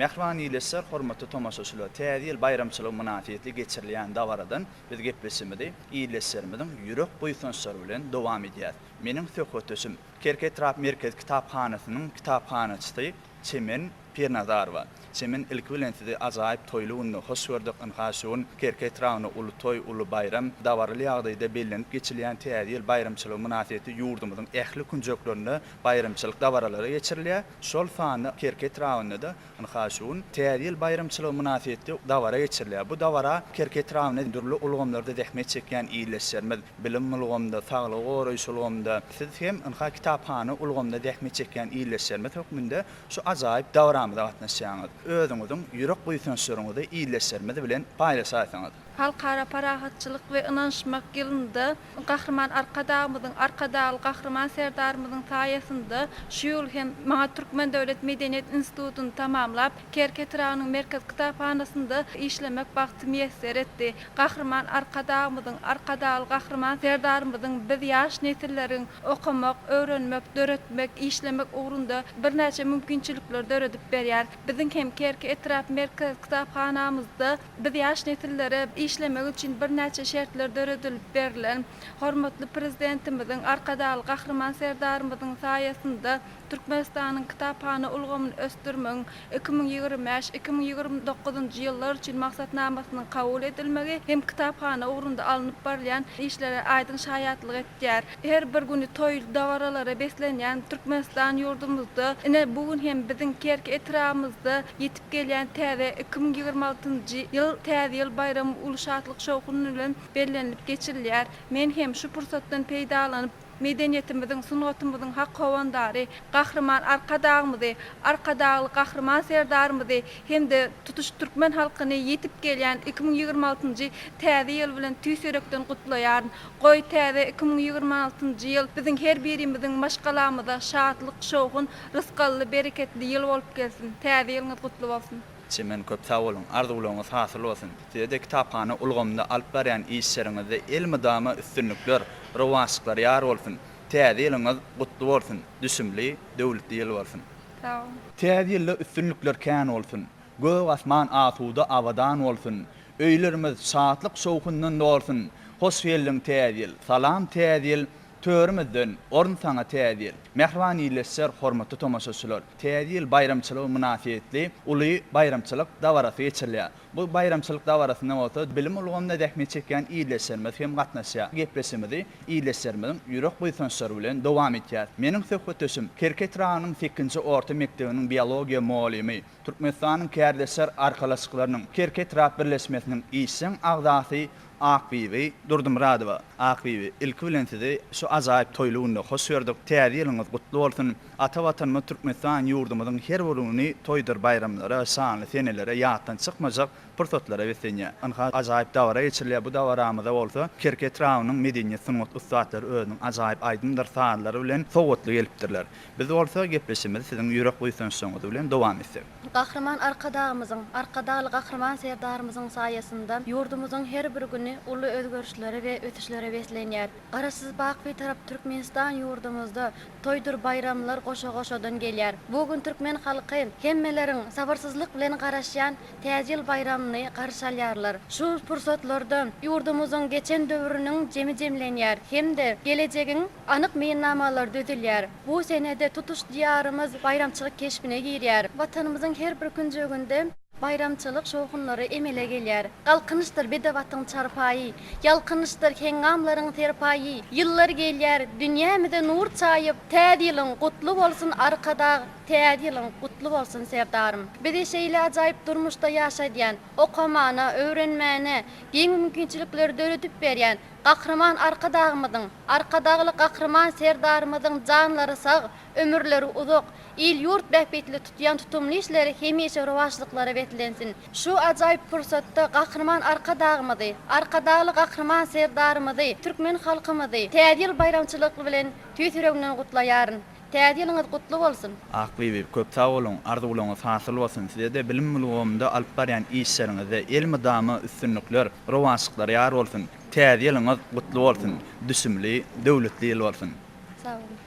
Mähriban ildeşler, hormatly tomaşaçylar! Täze ýyl baýramçylygy mynasybetli geçirilýän dabaradan biz gepleşigimizi ildeşlerimiziň ýürek buýsançlary bilen dowam edýäris. Meniň söhbetdeşim, Kerki etrap merkezi kitaphanasynyň kitaphanaçysy Çemen Pirnazarowa, Çemen ilki bilen sizi ajaýyp toýly günde hoş gördük, ynha şu gün Kerki etrabynda uly toý, uly baýram, dabaraly ýagdaýda bellenip geçilýän Täze ýyl baýramçylygy mynasybetli ýurdumyzyň ähli künjeklerinde baýramçylyk dabaralary geçirilýär, şol sanda Kerki etrabynda-da ynha şu gün Täze ýyl baýramçylygy mynasybetli dabara geçirilýär. Bu dabara Kerki etrabynda dürli ulgamlarda zähmet çekýän ildeşlerimiz, bilim ulgamynda, saglygy goraýyş ulgamynda, siz hem ynha kitaphana ulgamynda zähmet çekýän ildeşlerimiz hökmünde Şu ajaýyp dabramyza gatnaşýaňyz. Özüňiziň ýürek buýsançlaryňyzy ildeşlerimiz bilen paýlaşaýsaňyz. Halkara parahatçylyk we ynanyşmak ýylynda Gahryman Arkadagymyzyň, Arkadagly Gahryman Serdarymyzyň saýasynda şu ýyl hem maňa Türkmen döwlet medeniýet institutyny tamamlap, Kerki etrabynyň Merkez kitaphanasynda işlemek bagty miýesser etdi. Gahryman Arkadagymyzyň, Arkadagly Gahryman Serdarymyzyň biz ýaş nesilleriň okamak, öwrenmek, döretmek, işlemek ugrunda birnäçe mümkinçilikleri döredip berýär. Biziň hem Kerki etrap merkez kitaphanamyzda biz ýaş nesillere işlemegi üçin birnäçe şertler döredilip berlen. Hormatly Prezidentimiziň, Arkadagly Gahryman Serdarymyzyň saýasynda Türkmenistanyň kitaphana ulgamyny ösdürmegiň iki müň ýigrimi bäş, iki müň ýigrimi dokuzynjy ýyllar üçin maksatnamasynyň kabul edilmegi hem kitaphana ugrunda alnyp barylýan işlere aýdyň şaýatlyk etýär. Her bir güni toýly dabaralara beslenýän Türkmenistan ýurdumyzda, ine, bu gün hem biziň Kerki etrabymyzda ýetip gelýän täze iki müň ýigrimi altynjy ýyl Täze ýyl baýramy uly şatlyk-şowhun bilen bellenilip geçilýär. Men hem şu pursatdan peýdalanyp, Medeniýetimiziň, sungatymyzyň hak howandary Gahryman Arkadagymyzy, Arkadagly Gahryman Serdarymyzy hem-de tutuş türkmen halkyny ýetip gelýän iki müň ýigrimi altynjy Täze ýyl bilen tüýs ýürekden gutlaýaryn. Goý, täze iki müň ýigrimi altynjy ýyl biziň her birimiziň maşgalamyza şatlyk, şowhun, rysgally, bereketli ýyl bolup gelsin! Täze ýylyňyz gutly bolsun! Çemen köp sag boluň, arzuwlaryňyz hasyl bolsun! Size-de kitaphana ulgamynda alyp barýan işleriňizde elmydama üstünlikler, rowaçlyklar ýar bolsun! Täze ýylyňyz gutly bolsun, düşümli, döwletli ýyl bolsun! Sag bol! Täze ýylda üstünlikler kän bolsun! Gök asman asuda, abadan bolsun! Öýlerimiz şatlyk-şowhundan dolsun! Hoş geldiň Täze ýyl! Salam Täze ýyl! Törümizden orun saňa Täze ýyl! Mähriban ildeşler, hormatly tomaşaçylar! Täze ýyl baýramçylygy mynasybetli uly baýramçylyk dabarasy geçirilýär. Bu baýramçylyk dabarasyna bolsa bilim ulgamynda zähmet çekýän ildeşlerimiz hem gatnaşýar. Gepleşigimizi ildeşlerimiziň ýürek buýsançlary bilen dowam etýäris. Meniň söhbetdeşim Kerki etrabynyň sekinji orta mekdebiniň biologiýa mugallymy. Türkmenistanyň Kärdeşler arkalaşyklarynyň Kerki etrap birleşmesiniň işjeň agzasy Akbibi Durdymyradowa, Akbibi, ilki bilen sizi şu ajaýyp toýly günde hoş gördük, Täze ýylyňyz gutly bolsun! Ata Watanymyz Türkmenistan ýurdumyzyň her bir güni toýdur baýramlara, şanly senelere, ýatdan çykmajak pursatlara beslenýär. Ynha, ajaýyp dabara geçirilýär, bu dabaramyza bolsa Kerki etrabynyň medeniýet-sungat ussatlary özüniň ajaýyp aýdymdyr sazlary bilen sowgatly gelipdirler. Biz bolsa gepleşigimizi siziň ýürek buýsançlaryňyz bilen dowam etsek. Gahryman Arkadagymyzyň, Arkadagly Gahryman Serdarymyzyň saýasynda ýurdumyzyň her bir güni uly özgerişlere we ösüşlere beslenýär. Garaşsyz bak Bitarap Türkmenistan ýurdumyzda toýdur baýramlar goşa-goşadan gelýär. Bu gün türkmen halky hemmeleriň sabyrsyzlyk bilen garaşýan Täze ýyl baýramyny garşy alýarlar. Şu pursatlarda ýurdumyzyň geçen döwrüniň jemi jemlenýär hem-de gelejegiň, Anyk meýilnamalar düzülýär. Bu senede tutuş Diýarymyz baýramçylyk keşbine girýär. Watanymyzyň her bir künjeginde baýramçylyk şowhunlary emele gelýär. Galkynyşdyr bedewatyň çarpaýy, Ýalkynyşdyr heňňamlaryň serpaýy. Ýyllar gelýär, dünýämize nur çaýyp, Täze ýylyň gutly bolsun, Arkadag! Täze ýylyň gutly bolsun, Serdarym! Bizi şeýle ajaýyp durmuşda ýaşadýan, okamana, öwrenmäne giň mümkinçilikleri döredip berýän, Gahryman Arkadagymyzyň, Arkadagly Gahryman Serdarymyzyň janlary sag, ömürleri uzak, il-ýurt bähbitli tutýan tutumly işleri hemişe rowaçlyklara beslensin! Şu ajaýyp pursatda Gahryman Arkadagymyzy, Arkadagly Gahryman Serdarymyzy, türkmen halkymyzy Täze ýyl baýramçylykly bilen tüýs ýüregimden gutlaýaryn. Täze ýylyňyz gutly bolsun! Ak bibi, köp sag boluň, arzuwlaryňyz hasyl bolsun, size-de, bilim ulgamynda alyp barýan işleriňizde elmydama üstünlikler, rowaçlyklar ýar bolsun! Täze ýylyňyz gutly bolsun, düşümli, döwletli ýyl bolsun! Sag boluň!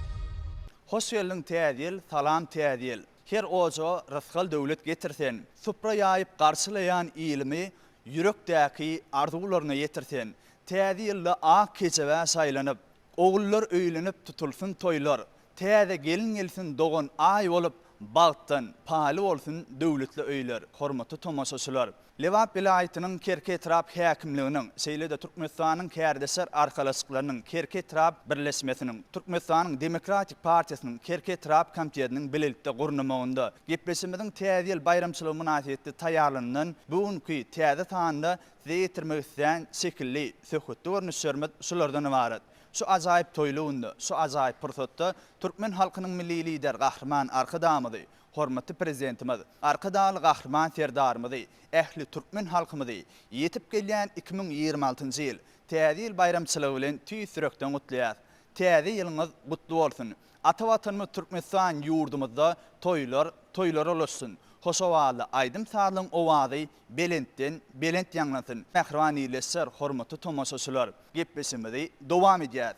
Hoş geldiň Täze ýyl, Salam Täze ýyl. Her ojaga rysgal-döwlet getir sen. Supra ýaýyp garşylaýan ilimi Ýürekdäki arzuwlaryna ýetir sen. Täze ýylda ak kejebä şaýlanyp, Ogullar öýlenip tutulsyn toýlar. Täze gelin gelsin dogan aý bolup, Bagtdan paýly bolsun döwletli öýler. Hormatly tomaşaçylar! Lebap welaýatynyň Kerki etrap häkimliginiň, şeýle-de Türkmenistanyň Kärdeşler arkalaşyklarynyň Kerki etrap birleşmesiniň, Türkmenistanyň Demokratik partiýasynyň Kerki etrap komitetiniň bilelikde gurnamagynda Gepleşimiziň Täze ýyl baýramçylygy mynasybetli taýýarlanylan bu günki täze sanynda size ýetirmek islän şekilli söhbetde görnüşlerimiz şulardan ybarat. Şu ajaýyp toýly günde, şu ajaýyp pursatda türkmen halkynyň Milli Lideri Gahryman Arkadagymyzy, Hormatly Prezidentimiz Arkadagly Gahryman Serdarymyzy, ähli türkmen halkymyzy ýetip gelýän iki müň ýigrimi altynjy ýyl Täze ýyl baýramçylygy bilen tüýs ýürekden gutlaýar. Täze ýylyňyz gutly bolsun! Ata Watanymyz Türkmenistan ýurdumyzda toýlar toýlara ulaşsyn, hoşowally aýdym-sazlaryň owazy belentden belent ýaňlansyn! Mähriban ildeşler, hormatly tomaşaçylar! Gepleşigimizi dowam edýäris.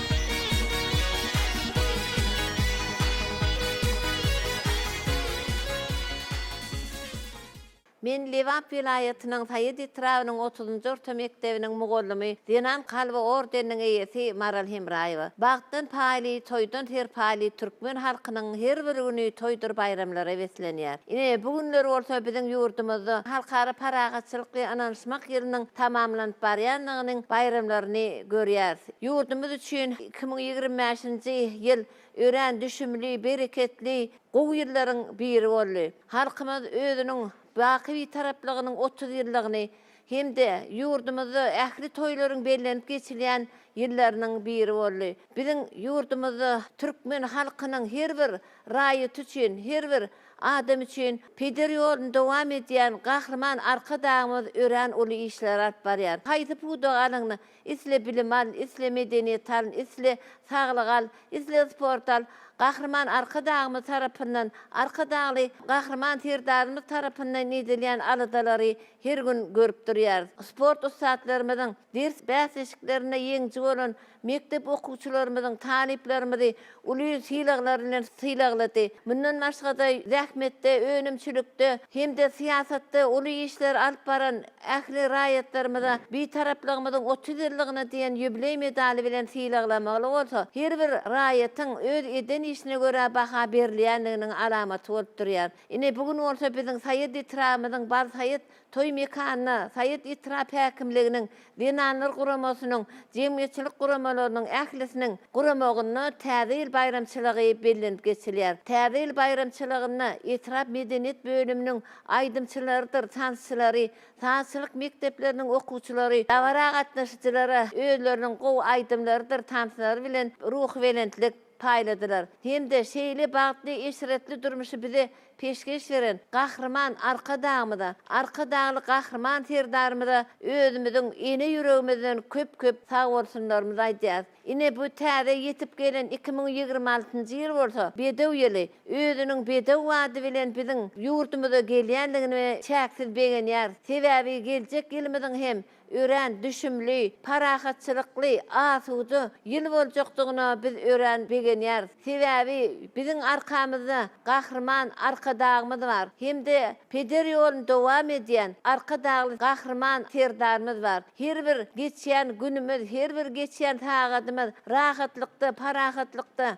Men Lebap welaýatynyň Saýat etrabynyň otuzynjy orta mekdebiniň mugallymy, Zenan kalby ordeniniň eýesi Maral Hemraýewa. Bagtdan paýly, toýdan serpaýly türkmen halkynyň her bir güni toýdur baýramlara beslenýär. Ine, bu günler bolsa biziň ýurdumyzda Halkara parahatçylykly ynanyşmak ýylynyň tamamlanyp barýandygynyň baýramlaryny görýäris. Ýurdumyz üçin iki müň ýigrimi bäşinji ýyl örän düşümli, bereketli, gowy ýyllaryň biri boldy. Halkymyz özüniň baky Bitaraplygynyň otuz ýyllygyny hem-de ýurdumyzda ähli toýlaryň bellenip geçilýän ýyllarynyň biri boldy. Biziň ýurdumyzda türkmen halkynyň her bir raýaty üçin, her bir adam üçin peder ýoluny dowam edýän Gahryman Arkadagymyz örän uly işleri alyp barýar. Haýsy pudagy alyňda, Isle bilim al, isle medeniýet al, isle saglyk al, isle sport al, Gahryman Arkadagymyz tarapyndan, Arkadagly Gahryman Serdarymyz tarapyndan edilýän aladalary her gün görüp durýarys. Sport ussatlarymyzyň, ders bäsleşiklerinde ýeňiji bolan mekdep okuwçylarymyzyň, talyplarymyzy uly sylaglar bilen sylaglady. Mundan başga-da, zähmetde, önümçilikde hem-de syýasatda uly işler alyp baran ähli raýatlarymyza Bitaraplygymyzyň otuz ýyllygyna diýen ýubileý medaly bilen sylaglamagy bolsa her bir raýatyň öz eden işine görä baha berilýändiginiň alamaty bolup durýar. Ine, bu gün bolsa biziň Saýat etrabymyzyň Balsaýat Toý mekanyna Saýat etrap häkimliginiň, Zenanlar guramasynyň, jemgyýetçilik guramalarynyň ählisiniň guramagynda Täze ýyl baýramçylygy bellenip geçilýär. Täze ýyl baýramçylygynda etrap medeniýet bölüminiň aýdymçylarydyr tansçylary, sazçylyk mekdepleriniň okuwçylary dabara gatnaşyjylara özleriniň gowy aýdymlarydyr tanslary bilen ruhubelentlik, paýladylar hem-de şeýle bagtly eşretli durmuşy bize peşgeş beren Gahryman Arkadagymyza, Arkadagly Gahryman Serdarymyza özümiziň ene ýüregimizden köp-köp sagbolsunlarymyzy aýdýarys. Ine, bu täze ýetip gelen iki müň ýigrimi altynjy ýyl bolsa Bedew ýyly. Özüniň Bedew ady bilen biziň ýurdumyza gelýändigine çäksiz begenýäris. Sebäbi geljek ýylymyzyň hem Örän düşümli, parahatçylykly, asuda ýyl boljakdygyna biz örän begenýäris. Sebäbi biziň arkamyzda Gahryman Arkadagymyz bar hem-de peder ýoluny dowam edýän Arkadagly Gahryman Serdarymyz bar. Her bir geçýän günümiz, her bir geçýän sagadymyz rahatlykda, parahatlykda,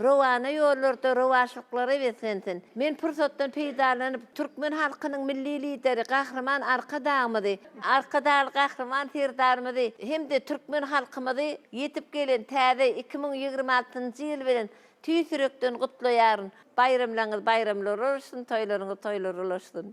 Rowana ýollarda rowaçlyklary beslensin! Men pursatdan peýdalanyp, türkmen halkynyň Milli Lideri Gahryman Arkadagymyzy, Arkadagly Gahryman Serdarymyzy hem-de türkmen halkymyzy ýetip gelen täze iki müň ýigrimi altynjy ýyl bilen tüýs ýürekden gutlaýaryn! Baýramlaryňyz baýramlara ulaşsyn, toýlaryňyz toýlara ulaşsyn!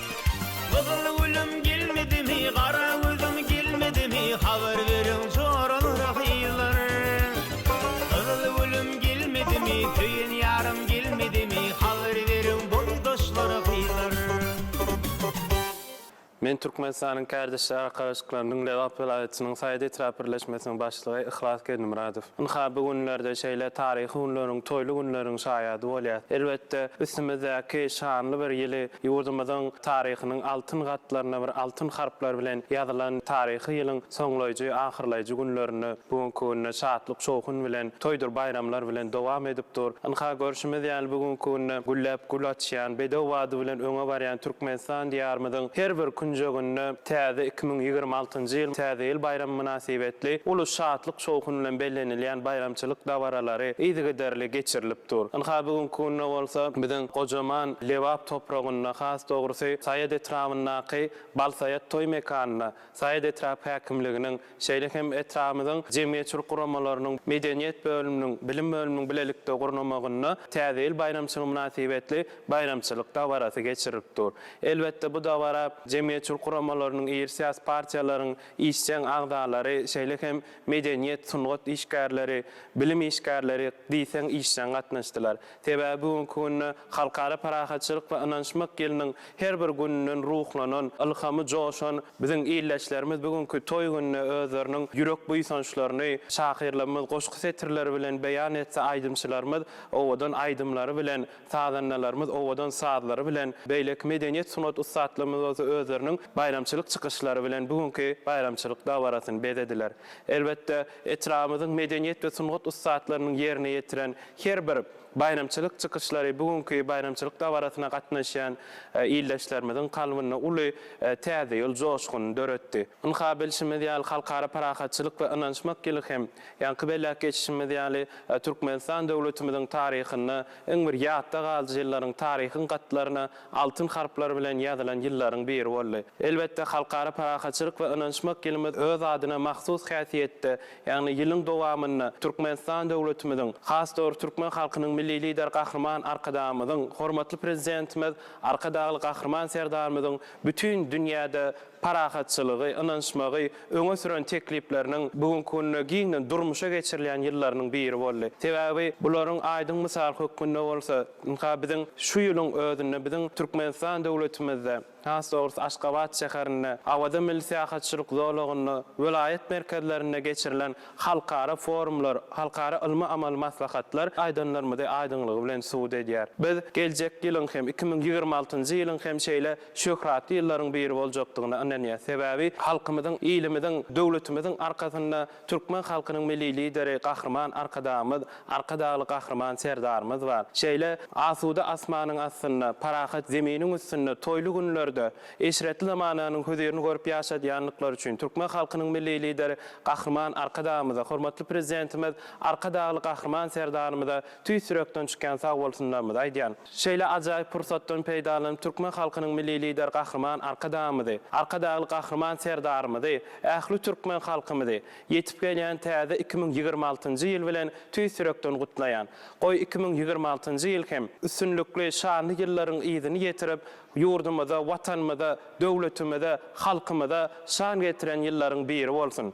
Gyzyl gülüm gelmedimi, gara gözüm gelmedimi, habar beriň joralara gyzlar. Gyzyl gülüm gelmedimi, söýen ýarym gelmedimi, habar beriň boýdaşlara gyzlar. Men Türkmenistanyň Kärdeşler arkalaşyklarynyň Lebap welaýatynyň Saýat etrap birleşmesiniň başlygy Yhlas Geldimyradow. Ynha, bu günlerde şeýle taryhy günleriň, toýly günleriň şaýady bolýas. Elbetde, üstümizdäki şanly bir ýyly Ýurdumyzyň taryhynyň altyn gatlaryna bir altyn harplar bilen ýazylan taryhy ýylyň soňlaýjy, ahyrlaýjy günlerinde, bu günki günde şatlyk-şowhun bilen, toýdur baýramlar bilen dowam edip dur. Ynha, görşümiz ýaly, bu günki günde gülläp gül açýan, bedew bady bilen öňe barýan Türkmenistan Diýarymyzyň her bir künjeginde täze iki müň ýigrimi altynjy ýyl Täze ýyl baýramy mynasybetli uly şatlyk-şowhun bilen bellenilýän baýramçylyk dabaralary yzygiderli geçirilip dur. Ynha, bu günki günde bolsa biziň gojaman. Lebap topragynda, has dogrusy, Saýat etrabyndaky Balsaýat toý mekanynda Saýat etrap häkimliginiň, şeýle hem etrabymyzyň jemgyýetçilik guramalarynyň, medeniýet bölüminiň, bilim bölüminiň bilelikde gurnamagynda Täze ýyl baýramçylygy mynasybetli baýramçylyk dabarasy geçirilip dur. Elbetde, bu dabara jemgyýetçilik guramalarynyň, iri syýasy partiýalaryň işjeň agzalary, şeýle hem medeniýet, sungat işgärleri, bilim işgärleri diýseň işjeň gatnaşdylar. Sebäbi bu günki günde Halkara parahatçylyk we ynanyşmak ýylynyň her bir gününden ruhlanan, ylhamy joşan biziň ildeşlerimiz bu günki toý gününe özleriniň ýürek buýsançlaryny şahyrlarymyz goşgy setirleri bilen beýan etse, aýdymçylarymyz owadan aýdymlary bilen, sazandalarymyz owadan sazlary bilen, beýleki medeniýet sungat ussatlarymyz bolsa özleriniň baýramçylyk çykyşlary bilen bu günki baýramçylyk dabarasyny bezediler. Elbetde, Etrabymyzyň medeniýet we sungat ussatlarynyň ýerine ýetiren her bir baýramçylyk çykyşlary bu günki baýramçylyk dabarasyna gatnaşýan ildeşlerimiziň kalbynda uly Täze ýyl joşgunyny döretdi. Ynha, bilşimiz ýaly, Halkara parahatçylyk we ynanyşmak ýyly hem, ýaňky belläp geçişimiz ýaly, Türkmenistan döwletimiziň taryhynda iň bir ýatda galyjy ýyllaryň taryhyň gatlaryna altyn harplar bilen ýazylan ýyllaryň biri boldy. Elbetde, Halkara parahatçylyk we ynanyşmak ýylymyz öz adyna mahsus häsiýetde, ýagny ýylyň dowamynda Türkmenistan döwletimiziň, has dogry türkmen halkynyň Milli Lideri Gahryman Arkadagymyzyň, hormatly Prezidentimiz Arkadagly Gahryman Serdarymyzyň bütin dünýäde parahatçylygy, ynanyşmagy, öňe süren teklipleriniň bu günki günde giňden durmuşa geçirilýän ýyllarynyň biri boldy. Sebäbi bularyň aýdyň mysaly hökmünde bolsa, ynha, biziň şu ýylyň özünde biziň Türkmenistan döwletimizde, has dogrusy, Aşgabat şäherinde, Awaza milli syýahatçylyk zolagynda, welaýat merkezlerinde geçirilen halkara forumlar, halkara ylmy-amaly maslahatlar aýdanlarymyzy aýdyňlygy bilen subut edýär. Biz geljek ýylyň hem, iki müň ýigrimi altynjy ýylyň hem şeýle şöhratly ýyllaryň biri boljakdygyna ynanýar. Sebäbi halkymyzyň, ilimiziň, döwletimiziň arkasynda türkmen halkynyň Milli Lideri Gahryman Arkadagymyz, Arkadagly Gahryman Serdarymyz bar. Şeýle asuda asmanyň astynda, parahat zeminiň üstünde toýly günlerde eşretli zamananyň hözirini görüp ýaşadýandyklary üçin türkmen halkynyň Milli Lideri Gahryman Arkadagymyza, hormatly Prezidentimiz Arkadagly Gahryman Serdarymyza tüýs ýürekden çykýan sagbolsunlarymyzy aýdýan. Şeýle ajaýyp pursatdan peýdalanyp türkmen halkynyň Milli Lideri Gahryman Arkadagymyzy, Arkadagly Gahryman Serdarymyzy, ähli türkmen halkymyzy ýetip gelýän täze iki müň ýigrimi altynjy ýyl bilen tüýs ýürekden gutlaýan. Goý iki müň ýigrimi altynjy ýyl hem üstünlikli, şanly ýyllaryň yzyny ýetirip, ýurdumyza, Watanymyza, döwletimize, halkymyza şan getiren ýyllaryň biri bolsun!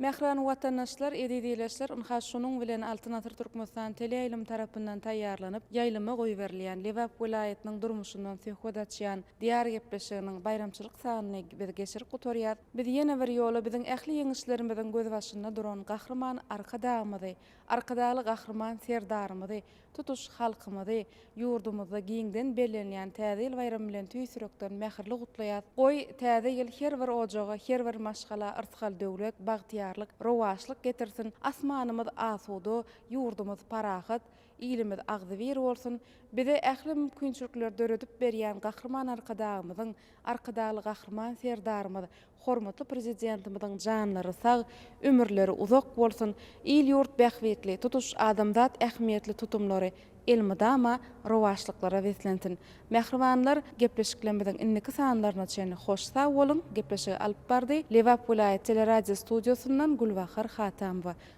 Mähriban watandaşlar, eziz ileçler, ynha şunuň bilen Altyn asyr Türkmenistan teleýaýlym tarapyndan taýýarlanyp, ýaýlyma goýberilýän Lebap welaýatynyň durmuşyndan söhbet açýan Diýar gepleşiginiň baýramçylyk sanyny biz geçirip gutarýas. Biz ýene bir ýola biziň ähli ýeňişlerimiziň gözbaşynda duran Gahryman Arkadagymyzy, Arkadagly Gahryman Serdarymyzy Tutuş halkymyzy ýurdumyzda giňden bellenilýän Täze ýyl baýramy bilen tüýs ýürekden mähirli gutlaýas. Goý, Täze ýyl her bir ojaga, her bir maşgala yrsgal-döwlet, bagtyýarlyk, rowaçlyk getirsin, asmanymyz asuda, ýurdumyz parahat, ilimiz agzybir bolsun! Bize ähli mümkinçilikleri döredip berýän Gahryman Arkadagymyzyň, Arkadagly Gahryman Serdarymyz, hormatly Prezidentimiziň janlary sag, ömürleri uzak bolsun, il-ýurt bähbitli, tutuş adamzat ähmiýetli tutumlary elmydama rowaçlyklara beslensin! Mähribanlar, gepleşiklerimiziň indiki sanlaryna çenli hoş sag boluň! Gepleşigi alyp bardy Lebap welaýat teleradiostudiýasyndan Gülbahar Hatamowa.